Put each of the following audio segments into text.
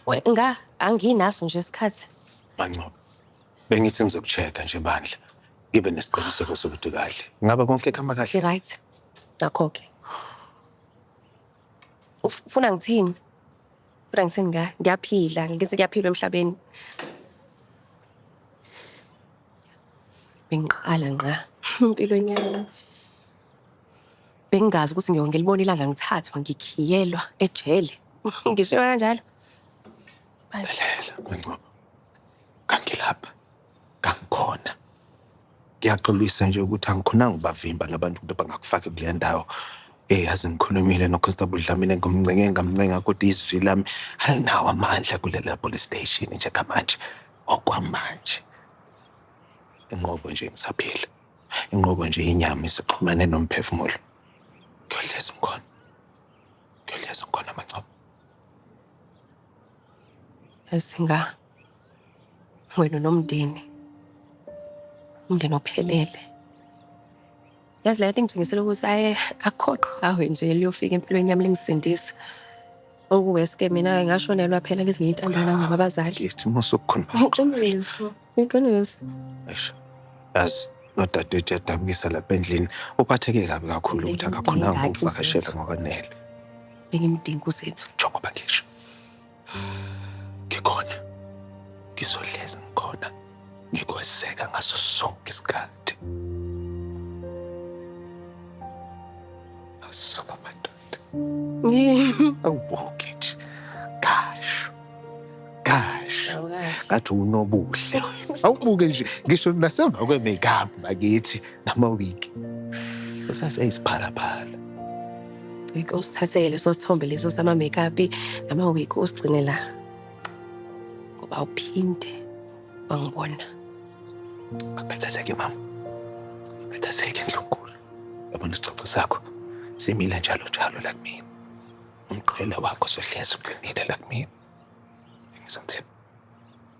We- nga anginaso nje isikhathi Mancoba, bengithi ngizokucheka nje bandla. Ngibe nesiqiniseko sokuthi kahle. Ngabe konke kuhamba kahle? i-right nakho-ke Uf- Ufuna ngithini? Kodwa ngithini ngayo? Ngiyaphila, ngithi kuyaphilwa emhlabeni. Bengiqala ngqa empilweni yami. Bengingazi ukuthi ngiyoke ngilibone ilanga ngithathwa ngikhiyelwa ejele. Ngishiwa kanjalo. Mangcobo, kangilapha. Kangikhona. Ngiyaxolisa nje ukuthi angikhonanga ubavimba labantu ukuthi bangakufaki kule ndawo. Eh yazi ngikhulumile noConstable Dlamini ngimncenge ngamncenga kodwa izwi lami alinawo amandla kulela police station njengamanje okwamanje. Inqobo nje ngisaphila. Inqobo nje inyama isixhumane nomphefumulo. Ngiyohlezi ngikhona. Ngiyohlezi ngikhona Mangcobo. Yazi nga wena unomndeni umndeni ophelele yazi leyo ingitshengisela ukuthi aye akhoqo awe nje liyofika empilweni yami lingisindisa okuweske mina ngashonelwa phela ngezinye intandana ngaba abazali isimo sokukhona iqiniso iqiniso yazi nodadewethu uyadabukisa lapha endlini uphatheke kabi kakhulu ukuthi akakhonanga ukuvakashela ngokwanele bengimdinga uzethu njengoba ngisho Ngikhona. Ngizohlezi ngikhona. Ngikweseka ngaso sonke isikhathi. Asuka madoda. Awubuki nje. Kasho. Kasho. Ngathi unobuhle. Awubuke nje ngisho nasemva kwe-makeup bakithi nama-wig. Usase eyisiphalaphala. Ngeke usithatheke leso sithombe leso sama-makeup nama-wig usigcine la. Ngoba uphinde wangibona. Akhathazeke mama. Akhathazeke ndlunkulu. Yabona isixoxo sakho simile njalo njalo la kumina. Umqhele wakho sohlezi uqinile la kumina. Ngizomthemba.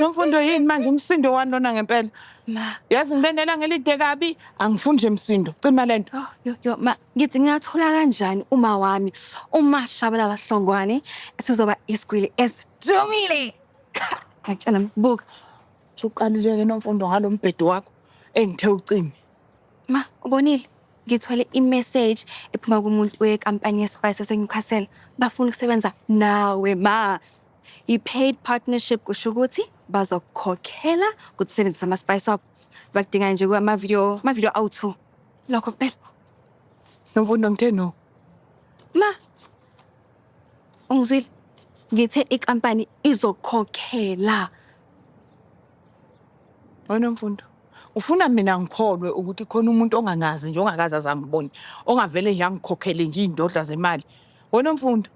Nomfundo yini manje umsindo wani lona ngempela? Ma. Yazi ngibenela ngelide kabi, angifuni nje msindo. Cima lento. Oh, yo yo ma, ngithi ngingathola kanjani uma wami uma shabalala hlongwane esizoba isigwili esidumile. Ngitshela mbuka. Uqalile ke nomfundo ngalombhedo wakho engithe ucime. Ma, ubonile? ngithole i-message ephuma kumuntu wekampani ye-spice esenyukhasela bafuna ukusebenza nawe ma I-paid partnership kusho ukuthi bazokukhokhela ukuthi usebenzise ama-spice wabo bakudingayo nje kwamavidiyo amavidiyo awu-two lokho kuphela Nomfundo ngithe no. ma ungizwile ngithe inkampani izokukhokhela Wena mfundo. Ufuna mina ngikholwe ukuthi khona umuntu ongangazi nje ongakaze azangibone, ongavele nje angikhokhele nje iy'ndodla zemali. Wena mfundo.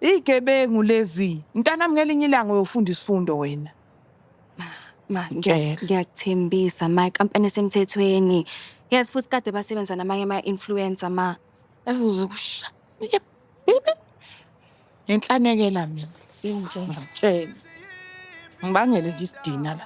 Igebengu lezi. Mntanami ngelinye ilanga uyofunda isifundo wena. Ma, ngiya- Ngicela. ngiyakuthembisa ma ikampani esemthethweni. Yes futhi kade basebenza namanye ama-influencer ma. Ezozokusha. Ngenhlanekela mina. Ngitshela. Ngibangele nje isidina la.